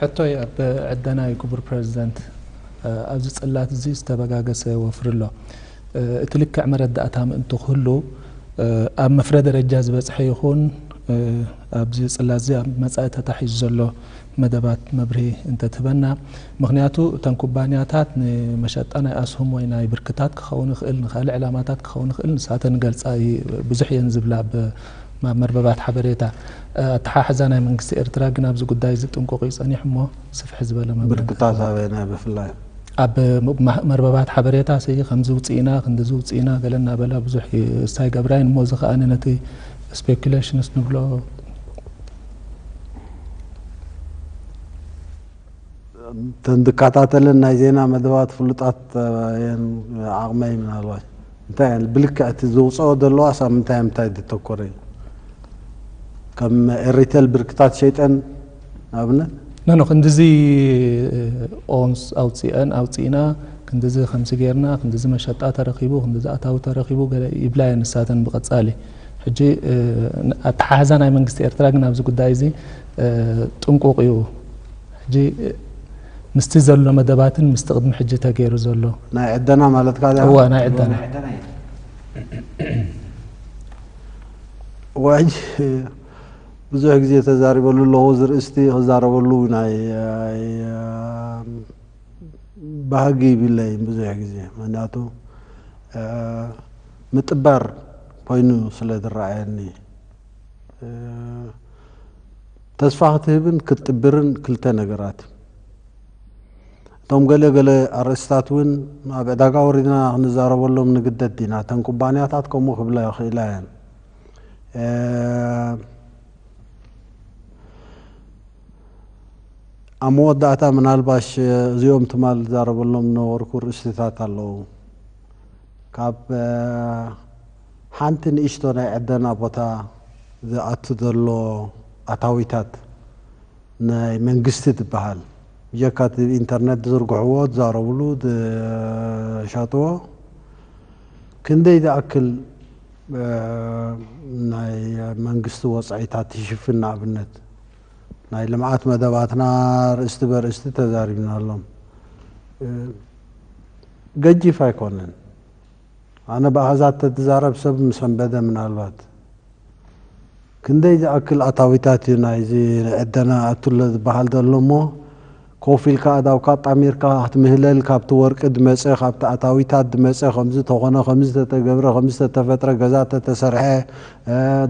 ሕቶይ ኣብ ዕደ ናይ ክቡር ፕረዚደንት ኣብዚ ጽላት እዚ ዝተበጋገሰ ወፍሪ ኣሎ። እቲ ልክዕ መረዳእታ ምእንቲ ክህሉ ኣብ መፍረ ደረጃ ዝበጽሐ ይኹን ኣብዚ ጽላት እዚ ኣብ መጻኢ ተታሒዙ ዘሎ መደባት መብርሂ እንተትህበና። ምኽንያቱ እተን ኩባንያታት ንመሸጣ ናይ ኣስሁም ወይ ናይ ብርክታት ክኸውን ይኽእል ንካልእ ዕላማታት ክኸውን ይኽእል ንሳተን ይገልጻ ብዙሕ እየን ዝብላ ኣብ ናብ መርበባት ሓበሬታ ኣተሓሕዛ ናይ መንግስቲ ኤርትራ ግን ኣብዚ ጉዳይ እዚ ጥንቁቕ እዩ ጸኒሑ እሞ ስፍሕ ዝበለ መብርሂ ብርክታት እንተትህበና። ኣበየናይ ብፍላይ? ኣብ መርበባት ሓበሬታ ሲ ከምዚ ኣውጺእና ክንድዚ ኣውጺእና ገለ እናበላ ብዙሕ እስ ኣይገብራይን እሞ እዚ ከኣ ነቲ ስፔኩሌሽንስ ንብሎ፣ እተን ዝከታተለን ናይ ዜና መደባት ፍሉጣት እየን ዓቕመይ ምናልባሽ። እንታይ እያ ብልክዕ እቲ ዘውጸኦ ዘለዋስ ኣብ ምንታይ ምንታይ ዘተኮረ እዩ ከም ኤሪተል ብርክታት ሸይጠን ንኣብነት ኖኖ ክንድዚ ኦንስ ኣውፅአን ኣውፅእና ክንድዚ ከምዚ ጌርና ክንድዚ መሸጣ ተረኪቡ ክንድዚ ኣታዊ ተረኪቡ ገለ ይብላ እየን ንሳተን ብቐፃሊ ሕጂ ኣተሓሕዛ ናይ መንግስቲ ኤርትራ ግን ኣብዚ ጉዳይ እዚ ጥንቁቕ እዩ ሕጂ ምስቲ ዘሎ መደባትን ምስቲ ቅድሚ ሕጂ ተገይሩ ዘሎ። ናይ ዕደና ማለትካ ድያ? እወ ናይ ዕደና። እወ ሕጂ ብዙሕ ግዜ ተዛሪበሉ ኣለኹ እዚ ርእስቲ ክዛረበሉ ውን ባህጊ ይብለይን ብዙሕ ግዜ ምክንያቱ ምጥባር ኮይኑ ስለ ዝረኣየኒ። ተስፋ ክትህብን ክትጥብርን ክልተ ነገራት እቶም ገለ ገለ ኣርእስታት እውን ኣብ ዕዳጋ ወሪድና ክንዛረበሎም ንግደድ ኢና እተን ኩባንያታት ከምኡ ክብላ ይኽእላ እየን ኣብ መወዳእታ ምናልባሽ እዚኦም ትማል ዛረበሎም ነበርኩ ርእስታት ኣለዉ ካብ ሓንቲ ንእሽቶ ናይ ዕደና ቦታ ዝኣቱ ዘሎ ኣታዊታት ናይ መንግስቲ ትበሃል ብጀካ እቲ ብኢንተርነት ዝዝርግሕዎ ዝዛረብሉ ዝሸጥዎ ክንደይ ዝኣክል ናይ መንግስቲ ወጻኢታት ትሽፍን ንኣብነት ናይ ልምዓት መደባትና ርእስቲ በርእስቲ ተዛሪብናሎም ገጂፍ ኣይኮነን። ኣነ ብኣሃዛት ተትዛረብ ሰብ ምሰንበደ ምናልባት። ክንደይ ዝኣክል ኣታዊታት እዩ ናይዚ ንዕደና ይኣቱለ ዝበሃል ዘሎ እሞ ኮፍ ኢልካ ኣእዳውካ ኣጣሚርካ ክትምህለል ካብቲ ወርቂ ድመጸ ካብቲ ኣታዊታት ድመጸ ከምዚ ተኾነ ከምዚ ተተገብረ ከምዚ ተተፈጥረ ገዛ ተተሰርሐ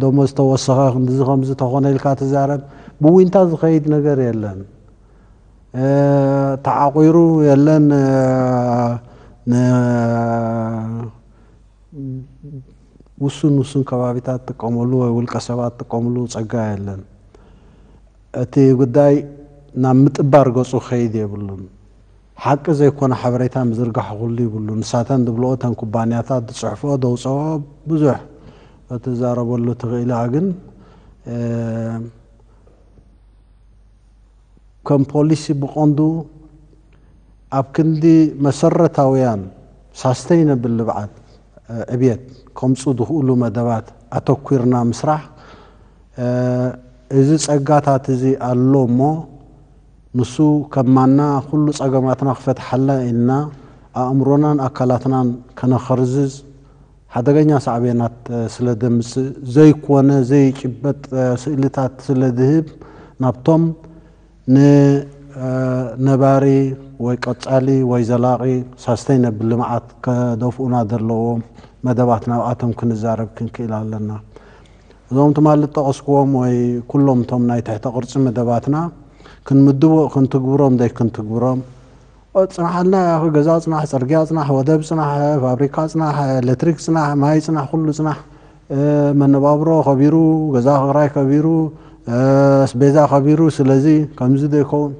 ደሞዝ ተወሰኸ ክንድዚ ከምዚ ተኾነ ኢልካ ትዛረብ ብዊንታ ዝኸይድ ነገር የለን ተዓቑሩ የለን ንውሱን ውሱን ከባቢታት ጥቀመሉ ወይ ውልቀ ሰባት ጥቀምሉ ፀጋ የለን። እቲ ጉዳይ ናብ ምጥባር ገፁ ክኸይድ የብሉን። ሓቂ ዘይኮነ ሓበሬታ ምዝርጋሕ ኩሉ ይብሉ። ንሳተን ዝብልኦ እተን ኩባንያታት ዝፅሕፍኦ ዘውፅኦ ብዙሕ ክትዛረበሉ ትኽእሊ ግን ከም ፖሊሲ ብቐንዱ ኣብ ክንዲ መሰረታውያን ሳስተይነብል ልብዓት፣ ዕብየት፣ ከምጹ ዝኽእሉ መደባት ኣተኲርና ምስራሕ እዚ ጸጋታት እዚ ኣሎ እሞ ንሱ ከማና ኩሉ ጸገማትና ክፈትሓልና ኢልና ኣእምሮናን ኣካላትናን ከነኸርዝዝ ሓደገኛ ሳዕቤናት ስለ ዘምጽእ፣ ዘይኮነ ዘይጭበጥ ስእልታት ስለ ዝህብ፣ ናብቶም ንነባሪ ወይ ቀጻሊ ወይ ዘላቒ፣ ሳስተይነብል፣ ልምዓት ከደፍኡና ዘለዎም መደባት ናብኣቶም ክንዛረብ ክንክኢል ኣለና። እዞም ትማሊ ዝጠቐስኩዎም ወይ ኩሎም እቶም ናይ ትሕተ ቅርጺ መደባትና ክንምድቦ ክንትግብሮም ዘይክንትግብሮም ጽናሓልና ያኣኺ ገዛ ጽናሕ ጽርግያ ጽናሕ ወደብ ጽናሕ ፋብሪካ ጽናሕ ኤለትሪክ ጽናሕ ማይ ጽናሕ ኩሉ ጽናሕ መነባብሮ ከቢሩ ገዛ ክራይ ከቢሩ ኣስቤዛ ከቢሩ ስለዚ ከምዚ ዶ ይከውን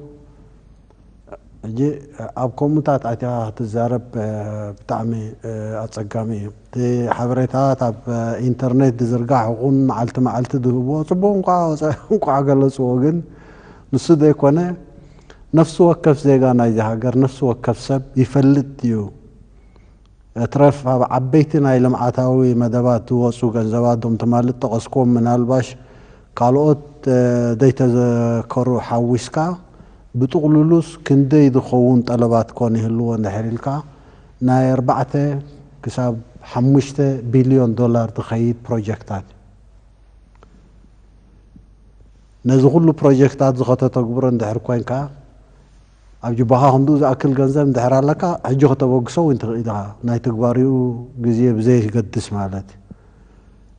ሕጂ ኣብ ኮሙታት ኣትያ ክትዛረብ ብጣዕሚ ኣጸጋሚ እዩ እቲ ሓበሬታት ኣብ ኢንተርኔት ድዝርጋሕ ይኹን መዓልቲ መዓልቲ ድህብዎ ጽቡቅ እንቋዕ ወጸ እንቋዕ ገለጽዎ ግን ንሱ ዘይኮነ ነፍሲ ወከፍ ዜጋ ናይዚ ሃገር፣ ነፍሲ ወከፍ ሰብ ይፈልጥ እዩ። እትረፍ ኣብ ዓበይቲ ናይ ልምዓታዊ መደባት ዝወጹ ገንዘባት እዞም ትማሊ ዝጠቐስኩዎም ምናልባሽ ካልኦት ዘይተዘከሩ ሓዊስካ ብጥቕሉሉስ ክንደይ ዝኸውን ጠለባት ኮን ይህልዎ እንድሕር ኢልካ ናይ ኣርባዕተ ክሳብ ሓሙሽተ ቢልዮን ዶላር ዝኸይድ ፕሮጀክታት እዩ። ነዚ ኩሉ ፕሮጀክታት እዚ ከተተግብሮ እንድሕር ኮይንካ ኣብ ጅባኻ ክንድኡ ዝኣክል ገንዘብ እንድሕር ኣለካ ሕጂ ክተበግሶ ውን ትኽእል ኢኻ ናይ ትግባሬኡ ግዜ ብዘየገድስ ማለት እዩ።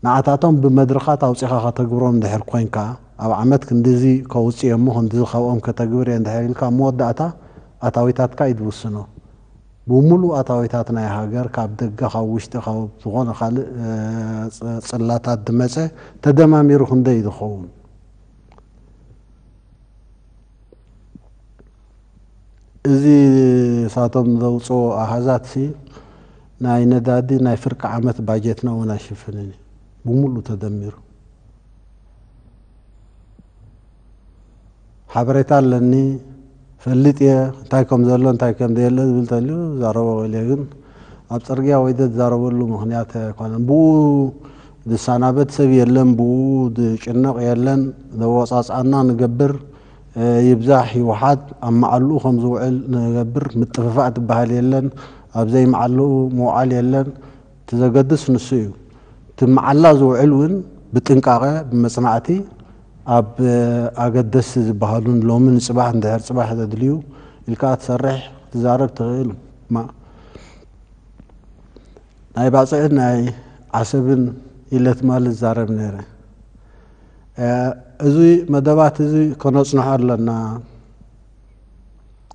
ንዓታቶም ብመድርኻት ኣውጺኻ ከተግብሮም እንድሕር ኮይንካ ኣብ ዓመት ክንድዚ ከውጽእ እየ እሞ ክንድዚ ካብኦም ከተግብር እየ እንድሕር ኢልካ ኣብ መወዳእታ ኣታዊታትካ እዩ ዝውስኖ ብሙሉእ ኣታዊታት ናይ ሃገር ካብ ደገ ካብ ውሽጢ ካብ ዝኾነ ካልእ ጽላታት ድመጸ ተደማሚሩ ክንደይ ድኸውን እዚ ሳቶም ዘውጽኦ ኣሃዛት ሲ ናይ ነዳዲ ናይ ፍርቂ ዓመት ባጀትና ውን ኣይሽፍንን እዩ ብሙሉእ ተደሚሩ። ሓበሬታ ኣለኒ እፈልጥ እየ እንታይ ከም ዘሎ እንታይ ከም ዘየለ ዝብል እንተልዩ ዛረቦ ክእል እየ ግን ኣብ ፅርግያ ወይ ዝዛረበሉ ምክንያት ኣይኮነን ብኡ ዝሰናበት ሰብ የለን ብኡ ዝጭነቕ የለን ዘወፃፅኣና ንገብር ይብዛሕ ይውሓድ ኣብ መዓልኡ ከም ዝውዕል ንገብር ምጥፍፋእ ትበሃል የለን ኣብ ዘይመዓልኡ ምውዓል የለን እቲ ዘገድስ ንሱ እዩ። እቲ መዓላ ዝውዕል እውን ብጥንቃቐ፣ ብመፅናዕቲ፣ ኣብ ኣገደስቲ ዝበሃሉ ንሎሚ፣ ንፅባሕ፣ ንድሕሪ ፅባሕ ዘድልዩ ኢልካ ክትሰርሕ፣ ክትዛረብ ትኽእል። ማ ናይ ባፅዕን ናይ ዓሰብን ኢለ ትማሊ ዝዛረብ ነይረ። እዚ መደባት እዚ ከነፅንሖ ኣለና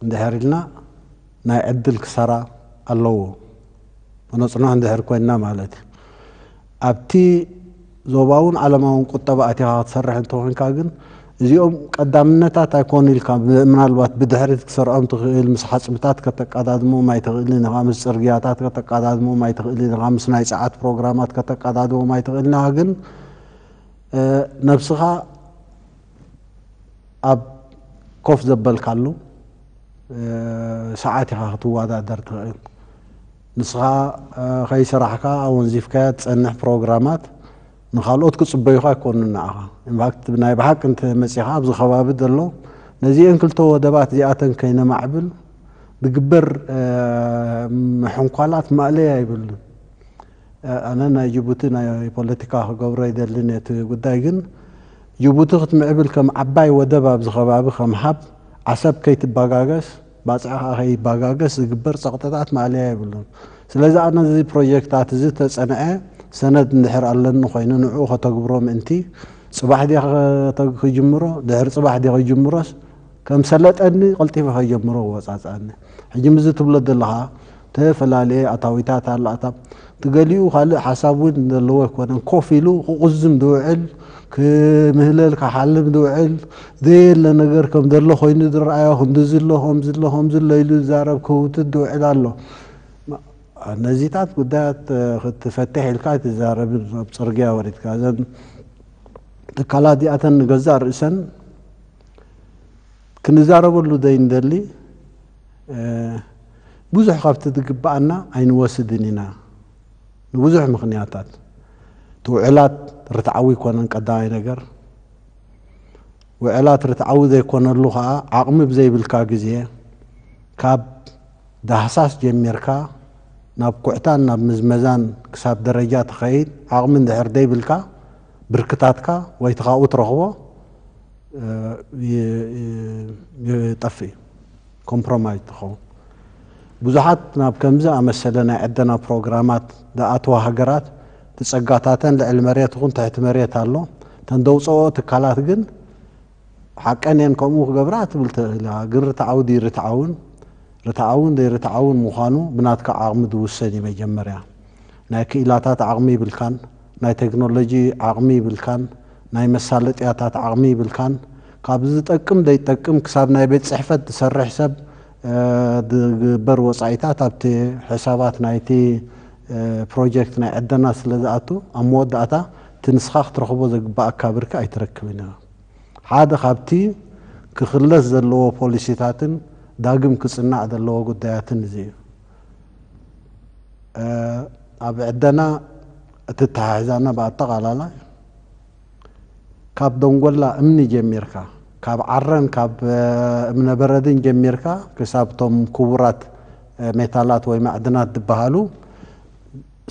እንድሕር ኢልና፣ ናይ ዕድል ክሳራ ኣለዎ መነፅናሕ እንድሕር ኮይንና ማለት እዩ። ኣብቲ ዞባውን ዓለማውን ቁጠባ ኣቲኻ ክትሰርሕ እንተኾይንካ ግን እዚኦም ቀዳምነታት ኣይኮኑ ኢልካ ምናልባት ብድሕሪት ክትሰርዖም ትኽእል፣ ምስ ሓፅብታት ከተቃዳድሞም ኣይትኽእልን ኢኻ፣ ምስ ፅርግያታት ከተቃዳድሞም ኣይትኽእልን ኢኻ፣ ምስ ናይ ፀዓት ፕሮግራማት ከተቃዳድሞም ኣይትኽእልን ኢኻ ግን ነብስኻ ኣብ ኮፍ ዘበልካሉ፣ ሰዓት ኢኻ ክትወዳደር ትኽእል። ንስኻ ከይሰራሕካ ኣወንዚፍካያ ትጸንሕ ፕሮግራማት ንኻልኦት ክጽበዩኻ ኣይኮኑን ንዓኻ። ኢንፋክት ናይ ብሓቂ እንተ መጺኻ ኣብዚ ከባቢ ዘሎ ነዚኤን ክልተ ወደባት እዚኣተን ከይነማዕብል ዝግበር ምሕንኳላት ማእለያ የብሉን። ኣነ ናይ ጅቡቲ ናይ ፖለቲካ ክገብሮ ይደሊ ነቲ ጉዳይ ግን ጅቡቲ ክትምዕብል ከም ዓባይ ወደብ ኣብዚ ከባቢ ከም ሃብ ዓሰብ ከይትባጋገስ ባጽዕ ከኣ ከይባጋገስ ዝግበር ጸቕጥታት ማእለያ የብሉን ስለዚ ኣነ እዚ ፕሮጀክታት እዚ ተጸንዐ ሰነድ እንድሕር ኣለኒ ኮይኑ ንዕኡ ከተግብሮ ምእንቲ ጽባሕ ድየ ክጅምሮ ድሕሪ ጽባሕ ድየ ክጅምሮስ ከም ሰለጠኒ ቀልጢፈ ከይጀምሮ ክወጻጸኣኒ ሕጂ ምስዚ ትብሎ ዘለኻ ተፈላለየ ኣታዊታት ኣላታ እቲ ገሊኡ ካልእ ሓሳብ ውን ዘለዎ ኣይኮነን ኮፍ ኢሉ ክቁዝም ዝውዕል ክምህለል ክሓልም ዝውዕል ዘየለ ነገር ከም ዘሎ ኮይኑ ዝረኣዮ ክንድዚ ኣሎ ከምዚ ኣሎ ከምዚ ኣሎ ኢሉ ዝዛረብ ክህውትት ዝውዕል ኣሎ ነዚታት ጉዳያት ክትፈትሕ ኢልካ ኣይትዛረብን ኣብ ጽርግያ ወሪድካ እዘን ትካላት እዚኣተን ንገዛእ ርእሰን ክንዛረበሉ ዘይንደሊ ብዙሕ ካብቲ ዝግበኣና ኣይንወስድን ኢና ንብዙሕ ምኽንያታት እቲ ውዕላት ርትዓዊ ኣይኮነን ቀዳማይ ነገር ውዕላት ርትዓዊ ዘይኮነሉ ከዓ ዓቕሚ ብዘይብልካ ግዜ ካብ ዳህሳስ ጀሚርካ ናብ ኩዕታን ናብ ምዝመዛን ክሳብ ደረጃ ትኸይድ ዓቕሚ እንድሕር ዘይብልካ ብርክታትካ ወይ እቲ ካብኡ ትረኽቦ ይጠፍእ እዩ፣ ኮምፕሮማይዝ ትኸውን። ብዙሓት ናብ ከምዚ ዝኣመሰለ ናይ ዕደና ፕሮግራማት ዝኣትዋ ሃገራት እቲ ጸጋታተን ልዕሊ መሬት ይኹን ትሕቲ መሬት ኣሎ፣ እተን ዘውጽኣኦ ትካላት ግን ሓቀን እየን ከምኡ ክገብራ ትብል ተኽኢላ ግን ርትዓዊ ድዩ ርትዓውን ርትዓውን ዘይርትዓውን ምዃኑ ብናትካ ዓቕሚ ዝውሰን እዩ መጀመርያ ናይ ክኢላታት ዓቕሚ ይብልካን ናይ ተክኖሎጂ ዓቕሚ ይብልካን ናይ መሳለጥያታት ዓቕሚ ይብልካን ካብዚ ዝጠቅም ዘይጠቅም ክሳብ ናይ ቤት ጽሕፈት ዝሰርሕ ሰብ ዝግበር ወጻኢታት ኣብቲ ሕሳባት ናይቲ ፕሮጀክት ናይ ዕደና ስለ ዝኣቱ፣ ኣብ መወዳእታ እቲ ንስኻ ክትረኽቦ ዘግባኣካ ብርኪ ኣይትረክብን ኢኻ። ሓደ ካብቲ ክክለስ ዘለዎ ፖሊሲታትን ዳግም ክጽናዕ ዘለዎ ጉዳያትን እዚ እዩ። ኣብ ዕደና እትተሓሕዛና ብኣጠቓላላይ፣ ካብ ደንጎላ እምኒ ጀሚርካ፣ ካብ ዓረን ካብ እምነ በረድን ጀሚርካ ክሳብ እቶም ክቡራት ሜታላት ወይ ማዕድናት ዝበሃሉ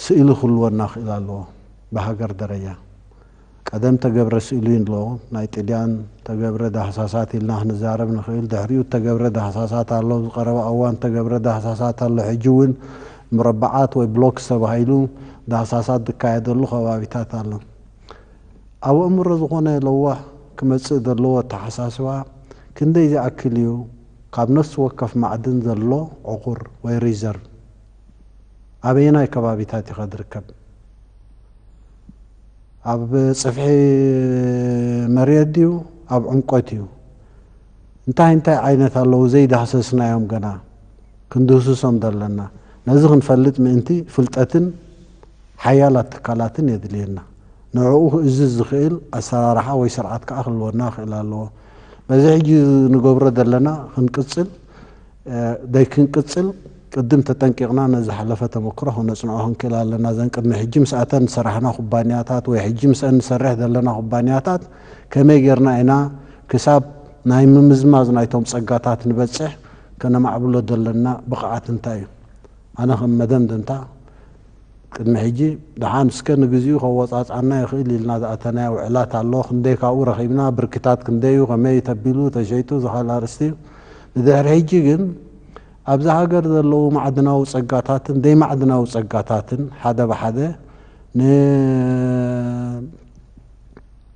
ስእሊ ክህልወና ክእል ኣለዎ ብሃገር ደረጃ። ቀደም እተገብረ ስእሊ ኣሎ፣ ናይ ጥልያን እተገብረ ዳህሳሳት ኢልና ክንዛረብ ንክእል፣ ድሕሪኡ እተገብረ ዳህሳሳት ኣሎ፣ ኣብዚ ቀረባ እዋን እተገብረ ዳህሳሳት ኣሎ፣ ሕጂ እውን ሙረበዓት ወይ ብሎክስ ተባሂሉ ዳህሳሳት ዝካየደሉ ከባቢታት ኣሎ። ኣብ ኣእምሮ ዝኾነ ለዋህ ክመጽእ ዘለዎ ኣተሓሳስባ ክንደይ ዝኣክል እዩ ካብ ነፍሲ ወከፍ ማዕድን ዘሎ ዕቑር ወይ ሪዘርቭ ኣበየናይ ከባቢታት ኢኻ ዝርከብ ኣብ ጽፍሒ መሬት ድዩ ኣብ ዕምቆት እዩ እንታይ እንታይ ዓይነት ኣለዉ ዘይዳህሰስናዮም ገና ክንድህስሶም ዘለና ነዚ ክንፈልጥ ምእንቲ ፍልጠትን ሓያላት ትካላትን የድልየና። ንዕኡ ክእዝዝ ዝኽእል ኣሰራርሓ ወይ ስርዓት ከኣ ክህልወና ክኽእል ኣለዎ። በዚ ሕጂ ንገብሮ ዘለና ክንቅጽል ደይክንቅጽል ቅድም ተጠንቂቕና ነዚ ዝሓለፈ ተመክሮ ክነጽንዖ ክንክእል ኣለና። እዘን ቅድሚ ሕጂ ምስኣተን ዝሰራሕና ኩባንያታት ወይ ሕጂ ምስኣን ንሰርሕ ዘለና ኩባንያታት ከመይ ጌርና ኢና ክሳብ ናይ ምምዝማዝ ናይቶም ጸጋታት ንበጽሕ ከነማዕብሎ ዘለና ብቕዓት እንታይ እዩ? ኣነ ከም መደምደምታ ቅድሚ ሕጂ ደሓን እስከ ንግዚኡ ከወጻጽኣና ይኽእል ኢልና ዝኣተናዮ ውዕላት ኣሎ፣ ክንደይ ካብኡ ረኺብና፣ ብርኪታት ክንደይ እዩ፣ ከመይ እዩ ተቢሉ፣ ተሸይጡ እዚ ካልእ ኣርእስቲ እዩ። ንድሕሪ ሕጂ ግን ኣብዛ ሃገር ዘለዉ ማዕድናዊ ጸጋታትን ዘይማዕድናዊ ጸጋታትን ሓደ ብሓደ ን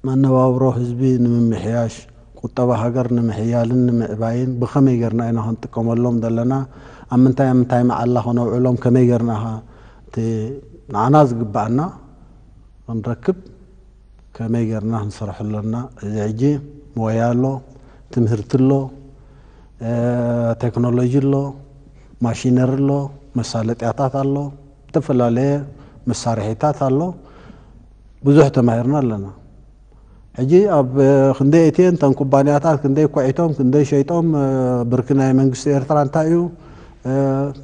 መነባብሮ ህዝቢ ንምምሕያሽ፣ ቁጠባ ሃገር ንምሕያልን ንምዕባይን ብኸመይ ጌርና ኢና ክንጥቀመሎም ዘለና፣ ኣብ ምንታይ ኣብ ምንታይ መዓላ ክነውዕሎም፣ ከመይ ጌርና ከ እቲ ንዓና ዝግብኣና ክንረክብ ከመይ ጌርና ክንሰርሖ ኣሎና፣ እዚ ሕጂ ሞያ ኣሎ፣ ትምህርቲ ኣሎ፣ ቴክኖሎጂ ኣሎ፣ ማሺነሪ ኣሎ፣ መሳለጥያታት ኣሎ፣ እተፈላለየ መሳርሒታት ኣሎ። ብዙሕ ተማሂርና ኣለና ሕጂ ኣብ ክንደይ እትየን ተን ኩባንያታት ክንደይ ኮዒቶም ክንደይ ሸይጦም ብርኪ ናይ መንግስቲ ኤርትራ እንታይ እዩ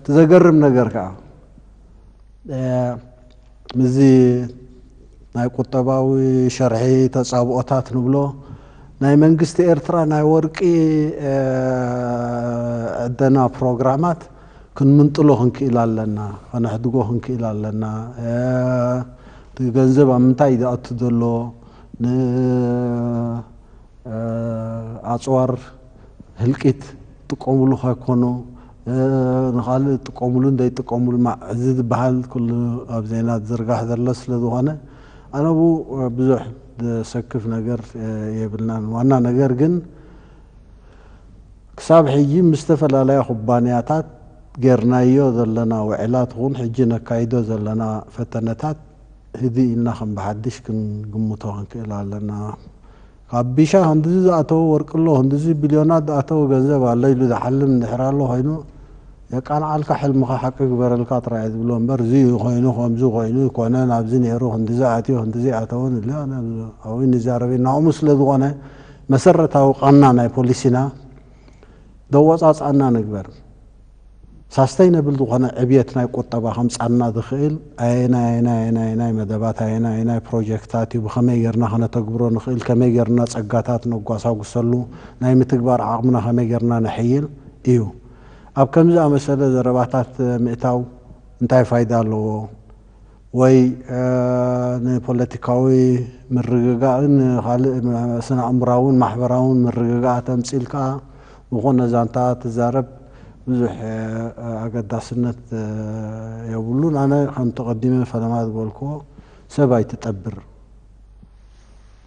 ትዘገርም ነገር ከዓ ምዚ ናይ ቁጠባዊ ሸርሒ ተጻብኦታት ንብሎ ናይ መንግስቲ ኤርትራ ናይ ወርቂ ዕደና ፕሮግራማት ክንምንጥሎ ክንክእል ኣለና፣ ከነሕድጎ ክንክእል ኣለና፣ እቲ ገንዘብ ኣብ ምንታይ እዩ ዝኣቱ ዘሎ፣ ንኣጽዋር ህልቂት ይጥቀምሉ ከይኮኑ ንኻልእ ይጥቀምሉን ዘይጥቀምሉን ማዕ እዚ ዝበሃል ኩሉ ኣብ ዜና ዝዝርጋሕ ዘሎ ስለ ዝኾነ ኣነ ኣብኡ ብዙሕ ዘሰክፍ ነገር የብልናን። ዋና ነገር ግን ክሳብ ሕጂ ምስ ዝተፈላለያ ኩባንያታት ጌርናዮ ዘለና ውዕላት ኹን ሕጂ ነካይዶ ዘለና ፈተነታት ህድእ ኢልና ከም ብሓድሽ ክንግምቶ ክንክእል ኣለና። ካብ ቢሻ ክንድዚ ዝኣተወ ወርቂ ኣሎ፣ ክንድዚ ቢልዮናት ዝኣተወ ገንዘብ ኣሎ ኢሉ ዝሓልም እንድሕር ኣሎ ኮይኑ የቃንዓልካ ሕልምኻ ሓቂ ክግበረልካ ጥራይ እየ ዝብሎ እምበር እዚ ኮይኑ ከምዚ ኮይኑ ኣይኮነን ኣብዚ ኔሩ ክንድዚ ኣትዩ ክንድዚ ኣይኣተወን ኢልና ኣብይ ንዛረብ ኢና ከምኡ ስለ ዝኾነ መሰረታዊ ቃና ናይ ፖሊሲና ደወጻጽኣና ንግበር። ሳስተይነብል ዝኾነ ዕብየት ናይ ቁጠባ ከምጻልና ዝኽእል ኣየናይ ኣየናይ ኣየናይ መደባት ኣየናይ ኣየናይ ፕሮጀክታት እዩ ብኸመይ ጌርና ከነተግብሮ ንኽእል ከመይ ጌርና ጸጋታት ነጓሳጉሰሉ ናይ ምትግባር ዓቕምና ከመይ ጌርና ነሕይል እዩ። ኣብ ከምዚ ኣመሰለ ዘረባታት ምእታው እንታይ ፋይዳ ኣለዎ? ወይ ንፖለቲካዊ ምርግጋእን ካልእ ስነ-ኣእምሮኣውን ማሕበራውን ምርግጋኣት ኣምጺእልካ ዝኾነ ዛንታ ትዛረብ ብዙሕ ኣገዳስነት የብሉን። ኣነ ከምቲ ቀዲመ ፈለማ ዝበልክዎ ሰብ ኣይትጠብር።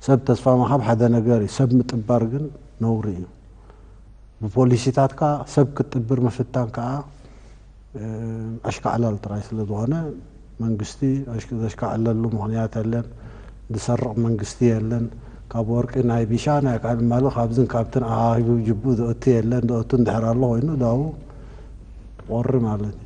ሰብ ተስፋ ምሃብ ሓደ ነገር እዩ፣ ሰብ ምጥባር ግን ነውሪ እዩ። ብፖሊሲታትካ ሰብ ክትጥብር ምፍታን ከኣ ኣሽካዕላል ጥራይ ስለ ዝኾነ መንግስቲ ዘሽካዕለሉ ምኽንያት የለን ዝሰርቕ መንግስቲ የለን ካብ ወርቂ ናይ ቢሻ ናይ ቃል ማሉ ካብዝን ካብትን ኣኻኺቡ ጅብኡ ዘእቱ የለን ዘእቱ እንድሕር ኣሎ ኮይኑ ዳኡ ቖሪ ማለት እዩ።